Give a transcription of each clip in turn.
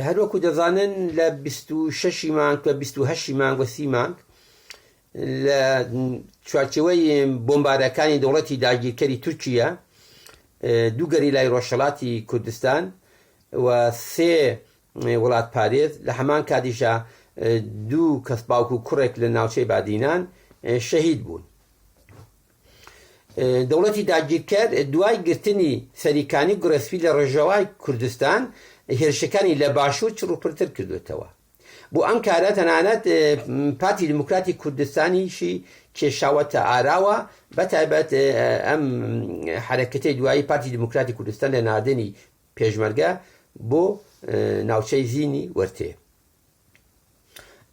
هەر وەکو دەزانن لە بیست و شەشی مانگ کە بیست و هەشتی مانگ و سی مانگ لە چوارچێوەی بۆمبارەکانی دەوڵەتی داگیرکەری تورکیە دوو گەریلای ڕۆژهەڵاتی کوردستان و سێ وڵات پارێز لە هەمان کاتیشا دوو کەس باوک و کوڕێک لە ناوچەی بادینان شەهید بوون. دەوڵەتی داگیرکەر دوای گرتنی سەریکانی گوڕەسپی لە ڕۆژەوای کوردستان هێرشەکانی لە باشوور چڕوپڕتر کردووەتەوە بۆ ئەم کارە تەنانەت پارتی دیموکراتی کوردستانیشی کێشاوەتە ئاراوە بەتایبەت ئەم حرەکەتی دوایی پارتی دیموکراتی کوردستان لە نادێنی پێشمەرگە بۆ ناوچەی زینی وەرتێ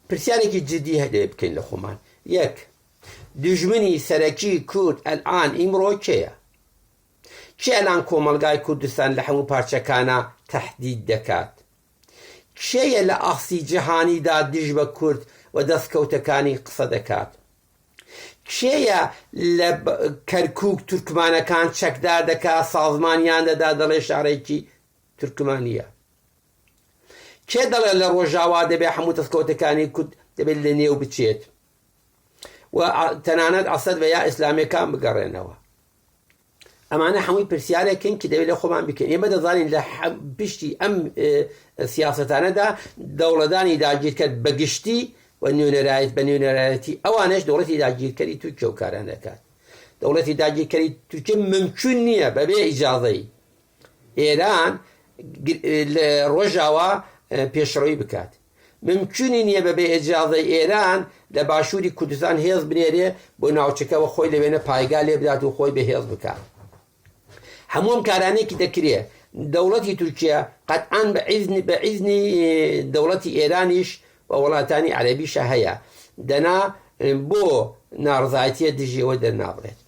پرسیارێکی جدی هەدەیە بکەین لە خۆمان یەک دژمنی سەرەکی کورد ئەلان ئیمڕۆ کێیە کێ ئەلان کۆمەلگای کوردستان لە هەموو پارچەکانە تهدید دەکات کێیە لە ئاخسی جیهانیدا دژ بە کورد و دەستکەوتەکانی قسە دەکات کێیە لە کەرکک تورکمانەکان چەکدار دەکات سازمانیان دەدا دەڵێ شارێکی تورکمانە کێ دەڵێ لە ڕۆژاوا دەبێ هەموو دەستکەوتەکانی کورد دەبێت لە نێو بچێت و تەنانەت ئەسەد بە یا ئیسلامەکان بگەڕێنەوە ئەمانە هەمووی پرسیارێکن کە دەوێت لە خۆمان بکەین ئێمە دەزانین لە پشتی ئەم سیاستانەدا دەوڵەدانی داگیرکرد بەگشتی و نوێنەرایەت بە نوێنەرایەتی ئەوانش دەوڵەتی داگیرکەری تورکیە و کاران دەکات دەوڵەتی داگیرکەری تورکیە ممکن نییە بەبێ ئیجاازەی ئێران لە ڕۆژاوا پێشڕەوی بکات. ممکونی نیە بە بێ ئێجازەی ئێران لە باشووری کوردستان هێز بنێرێ بۆ ناوچەکە و خۆی لەوێنە پایگا لێ بدات و خۆی بە هێز بکات. هەموو ئەم کارانێکی دەکرێ دەوڵەتی تورکیا قەتعان بە عیزنی بە عیزنی دەوڵەتی ئێرانیش و وڵاتانی عەرەبیشە هەیە دەنا بۆ ناڕزایەتیە دژیەوە دەرنابڕێت.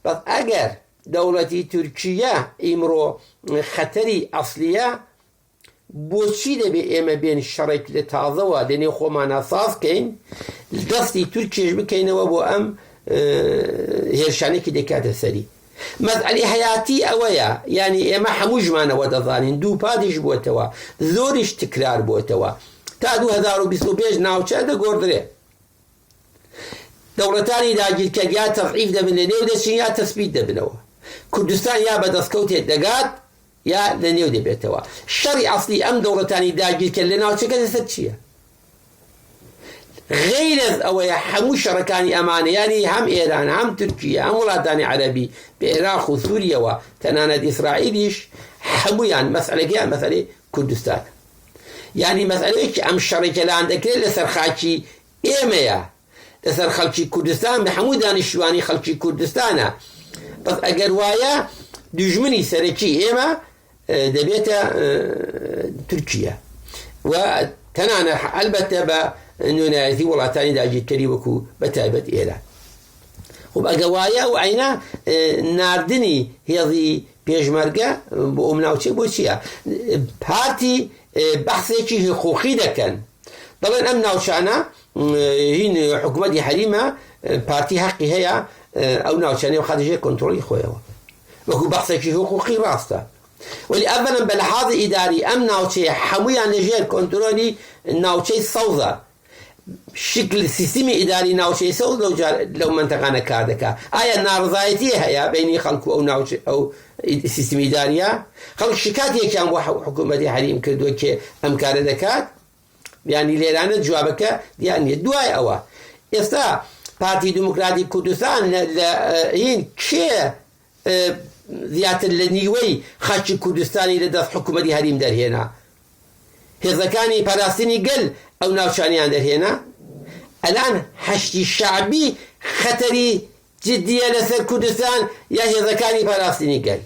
بەس ئەگەر دەوڵەتی تورکیە ئیمڕۆ خەتەری ئەسلیە بۆچی دەبێ ئێمە بێن شەڕێک لە تازەوە لە نێو خۆمانە ساز کەین دەستی تورکیش بکەینەوە بۆ ئەم هێرشانێکی دەکاتە سەری مەزعلی حیاتی ئەوەیە ینی ئێمە هەمووشمانەوە دەزانین دوو پادیش بووتەوە زۆریش تکرار بووتەوە تا 2025 ناوچە دەگۆدرێ دەوڵەتانی داگیرکەر یا تەزعیف دەبن لە نێو دەچن یا تەسبیت دەبنەوە کوردستان یا بە دەستکەوتێک دەگات یا لە نێو دەبێتەوە شەڕی ئەسلی ئەم دەوڵەتانی داگیرکە لە ناوچەکە لەسەر چییە غیرز ئەوەیە هەموو شەڕەکانی ئەمانە یانی هەم ئێران هەم تورکیە هەم وڵاتانی عەربی بە عێراق و سووریەوە تەنانەت ئیسرائیلیش هەمویان مەسلەکەیان مەسەری کوردستان یانی مەسەلەیەکی ئەم شەڕی کە لان دەکرێت لەسەر خاکی ئێمەیە لەسەر خەڵکی کوردستان بە هەموو دانیشتوانی خەڵکی کوردستانە بەس ئەگەر وایە دژمنی سەرەکی ئێمە دەبێتە تورکیا و تەنانە ئەلبەتە بە نوێنایەتی وڵاتانی داگیرکەری وەکو بە تایبەت ئێران خۆ ئەگە وایە ئەو عینە ناردنی هێڵی پێشمەرگە بۆ ئەم ناوچێ بۆ چییە پارتی بەحسێکی حقوقی دەکەن دەڵێن ئەم ناوچانە هین حکوومەتی حەریمە پارتی حەقی هەیە ئەو ناوچانەی و خاتژێ کۆنتترۆلی خۆیەوە وەکو بەحسێکی حقوقی ڕاستە ولی ئەمەم بە لە حاض ئیداری ئەم ناوچەیە هەمویان لەژێر کۆنتترۆلی ناوچەی سەوزە شکل سیستمی ئیداری ناوچەی سەوز لەو جار لەو منتەقانە کار دەکا ئایا ناڕزایەتی هەیە بینی خەڵکو ئەو ناوچ ئەو سیستمی ئیداریە خەڵک شکاتێکیان بۆ حکوومەتی حریم کردووە کێ ئەم کارە دەکات بیانی لێرانە جوابەکە دیان نیە دوای ئەوە ئێستا پارتی دموکراتی کوردستان لە هین کێ زیاتر لە نیوەی خاکی کوردستانی لە دەست حکوومەتی هەریم دەرهێنا. هێزەکانی پاراستنی گەل ئەو ناوچانیان دەرهێنا. ئەلان حەشدی شەعبی خەتەری جدیە لەسەر کوردستان یا هێزەکانی پاراستنی گەل؟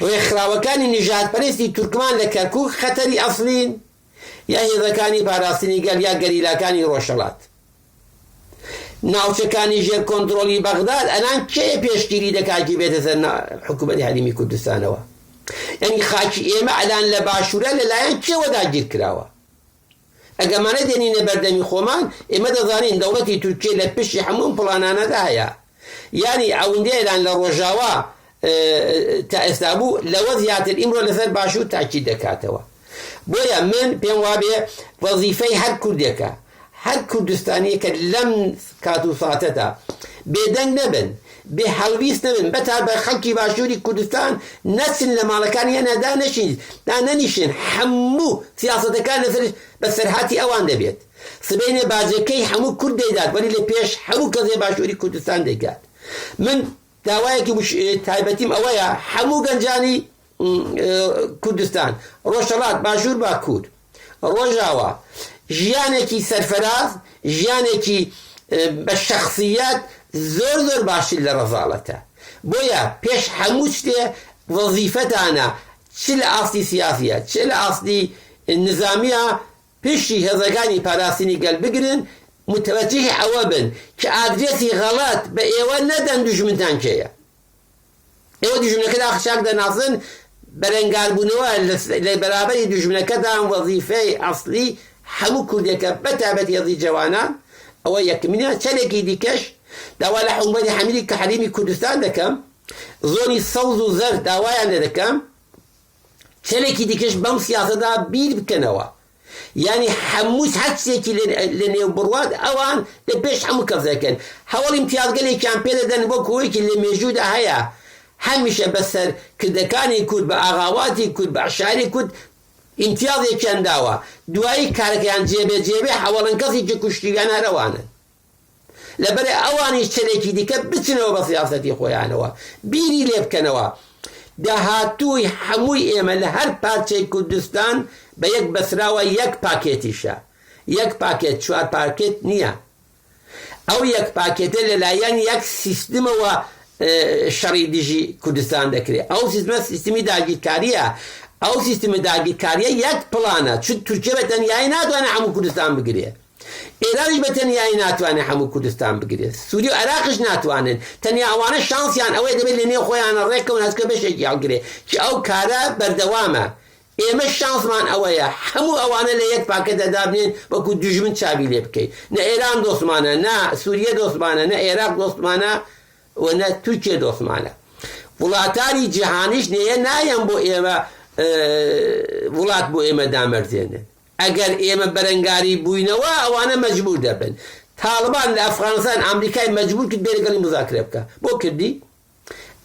ڕێکخراوەکانی نژادپەرستی تورکمان لە کەرکووک خەتەری ئەسڵین؟ یا هێزەکانی پاراستنی گەل یا گەریلاکانی ڕۆژهەڵات ناوچەکانی ژێر کۆنترۆڵی بەغداد ئەلان کێ پێشگیری دەکاتی بێتە سەر حکوومەتی هەرمی کوردستانەوە یعنی خاکی ئێمە ئەلان لە باشوورە لەلایەن کێوە داگیر کراوە ئەگەمانە دێنینە بەردەمی خۆمان ئێمە دەزانین دەوڵەتی تورکیە لە پشتی هەموو پڵانانەدا هەیە یانی ئەوندەیران لە ڕۆژاوا تا ئێستا بوو لەوە زیاتر ئیمڕۆ لەسەر باشوور تاکی دەکاتەوە بۆیە من پێم وابێ وەزیفەی هەر کوردێکە هەر کوردستانیەکە لەم کات و ساتەدا بێدەنگ نەبن بێ هەڵویست نەبن بەتا بە خەڵکی باشووری کوردستان نەچن لە ماڵەکانی هەنادا نەشین دا نەنیشن هەموو سیاستەکان لەسەر بەسەرهاتی ئەوان دەبێت سبەینێ باجەکەی هەموو کورد دەیدات وەلی لە پێش هەموو کەس لە باشووری کوردستان دەیکات من داوایەکی مش... تایبەتیم ئەوەیە هەموو گەنجانی کوردستان ڕۆژهەڵات باشوور باکوور ڕۆژاوە ژیانێکی سەرفراز ژیانێکی بە شخصیت زۆر زۆر باشتر لە ڕەزاڵەتە بۆیە پێش هەموو شتێ وەزیفەتانە چ لە ئاستی سیاسیە چ لە ئاستی نظامیە پشتی هێزەکانی پاراستنی گەل بگرن متوجهی ئەوە بن کە ئادرێسی غەڵەت بە ئێوە نەدەن دوژمنتان کێیە ئێوە دوژمنەکە داخ چاک دەناسن بەرەنگاربوونەوە لە بەرابەری دوژمنەکەتان وەزیفەی ئەسلی هەموو کوردێکە بە تابەت هێزی جەوانان ئەوە یەکمینە چەلێکی دیکەش داوا لە حکومەتی حەمیدی کە حەریمی کوردستان دەکەم زۆنی سەوز و زەرد داوایان لێ دەکەم کەلێکی دیکەش بەم سیاسەدا بیر بکەنەوە یعنی هەموو هەرچێکی لە نێو بڕوات ئەوان لە پێش هەموو کەس دەکەن هەوڵ امتیازگەلێکیان پێ دەدەن وەک هۆیەکی لە مێژوودا هەیە هەمیشە بەسەر کردەکانی کورد بە ئاغاواتی کورد بە عشاری کورد امتیازێکیان داوە دوایی کارەکەیان جێبێ جێبێ هەوڵن کەسێکی کوشتیان هەرەوانن لەبەرئ ئەوانیش چەنێکی دیکە بچنەوە بە سیاسەتی خۆیانەوە بیری لێ بکەنەوە داهاتووی هەمووی ئێمە لە هەر پارچەی کوردستان بە یەک بەسراوە یەک پاکێتیشە یەک پاکێت چوار پاکێت نییە ئەو یەک پاکێتە لەلایەن یەک سیستمەوە شەڕی دژی کوردستان دەکرێت ئەو سیستمە سیستمی داگیرکاریە ئەو سیستمی داگیرکاریە یەک پلانە چ تورکیە بە تەنیایی ناتوانێت هەموو کوردستان بگرێت ئێرانیش بە تەنیایی ناتوانێت هەموو کوردستان بگرێت، سووریە و عێراقیش ناتوانن، تەنیا ئەوانە شانسیان ئەوەیە دەبێت لە نێو خۆیانە ڕێککەون هەچکە بەشێکی هەڵگرێت، چ ئەو کارە بەردەوامە، ئێمەش شانسمان ئەوەیە هەموو ئەوانە لە یەک پاکەتدا دابنێن وەکو دوژمن چاوی لێ بکەین، نە ئێران دۆستمانە، نە سووریە دۆستمانە، نە عێراق دۆستمانە و نە تورکیە دۆستمانە، وڵاتانی جیهانیش نەیە نایەن بۆ ئێمە وڵات بۆ ئێمە دامەرزێنن، ئەگەر ئێمە بەرەنگاری بووینەوە ئەوانە مەجبوور دەبن. تاڵبان لە ئەفغانستان ئامریکای مەجبوور کرد بێ لەگەڵی موزاکرە بکا. بۆ کردی؟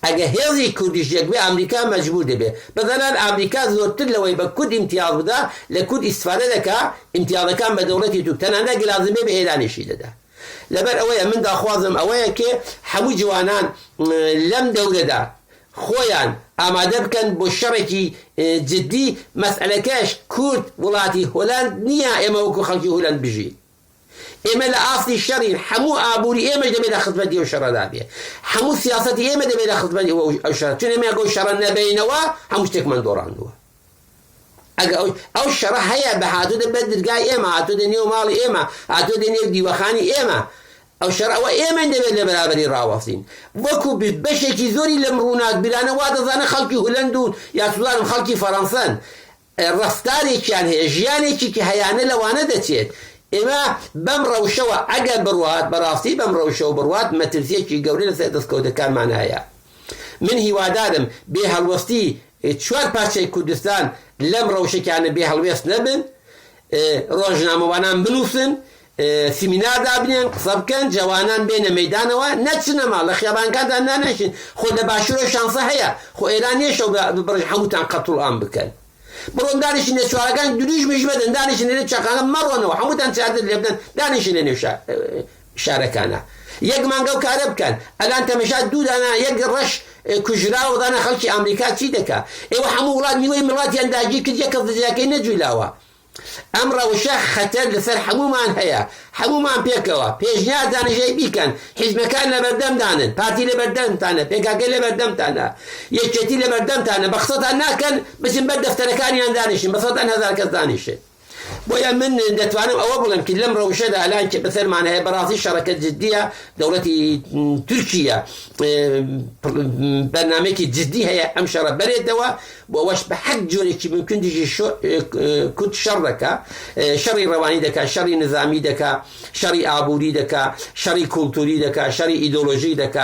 ئەگەر هێزی کوردیش یەک بێ ئامریکا مەجبوور دەبێ. بە زانان ئامریکا زۆرتر لەوەی بە کورد ئیمتیاز بدا لە کورد ئیستفادە دەکا، ئیمتیازەکان بە دەوڵەتی تورک تەنانەت گەر لازم بێ بە ئێرانیشی دەدا. لەبەر ئەوەیە من داخوازم ئەوەیە کێ هەموو جوانان لەم دەورەدا خۆیان ئامادە بکەن بۆ شەڕێکی جدی مەسەلەکەش کورد وڵاتی هۆلەند نیە ئێمە وەکو خەڵکی هولەند بژین ئێمە لە ئاستی شەڕین هەموو ئابوری ئێمەش دەبێت لە خزمەتی ئەو شەڕەدا بێ هەموو سیاسەتی ئێمە دەبێت لە خزمەتی ئەو شەڕ چون ئێمە ئەگەو شەڕە نەبینەوە هەموو شتێکمان دۆڕاندووە ئەگە ئەو شەڕە هەیە بە هاتوودە بە درگای ئێمە هاتوودە نێو ماڵی ئێمە هاتوودە نێو دیوەخانی ئێمە ئەو شەڕە ئەوە ئێمەین دەبێت لە بەرابەری ڕاوەستین وەکو بەشێکی زۆری لەم ڕووناکبیرانە وا دەزانە خەڵکی هولەند و یاخزوانم خەڵکی فەڕەنسەن ڕەفتارێکیان هەیە ژیانێکی کە هەیانە لەوانە دەچێت ئێمە بەم ڕەوشەوە ئەگەر بڕوات بەڕاستی بەم ڕەوشەوە بڕوات مەترسیەکی گەورە لەسەر دەستکەوتەکانمان هەیە من هیوادارم بێ هەڵوەستی چوار پارچەی کوردستان لەم ڕەوشەکیانە بێ هەڵوێست نەبن ڕۆژنامەوانان بنووسن سیمینار دابنێن قسە بکەن جەوانان بێنە مەیدانەوە نەچنە ماڵ لە خیابانکاندا نانێشن خۆ لە باشورە شانسە هەیە خۆ ئێران نیە شەو بڕژ هەمووتان قەتڵ ئام بکەن بڕۆن دانیشن لە چوارەکان درویژمش مەدەن دانیشن لە چاقانە مەڕۆنەوە هەمووتان چاردن لێ بدەن دانیشن لە نێو شارەکانە یەک مانگە و کارە بکەن ئەلان تەمەشا دوو دانا یەک ڕەش کوژرا و دانا خەڵکی ئەمریکا چی دەکا ئێوە هەموو وڵات نیوەی مڵاتیان داگیر کرد یەک کەس دەجیاکەی نەجولاوە ئەم ڕەوشە خەتەر لەسەر هەموومان هەیە، هەموومان پێکەوە، پێشنیار دانژەی بیکەن، حیزبەکان لەبەردەمدانن، پارتی لەبەردەمتانە، پێکاکە لەبەردەمتانە، یەکێتی لەبەردەمتانە، بەقسەتان ناکەن، بچن بەر دەفتەرەکانیان دانیشن، بەسەدان هەزار کەس دانیشن. بۆیە من دەتوانم ئەوە بڵێم کە لەم ڕەوشەدا لان کە بەسەرمان هەیە بەڕاستی شەڕەکە جددیە، دەوڵەتی تورکیە بەرنامەیەکی جددی هەیە ئەم شەڕە بەرێتەوە، بۆ ئەوەش بە هەر جۆرێکی مومکن دژی کورد شەڕ دەکا، شەڕی ڕەوانی دەکا، شەڕی نزامی دەکا، شەڕی ئابووری دەکا، شەڕی کوڵتووری دەکا، شەڕی ئیدۆلۆژیک دەکا،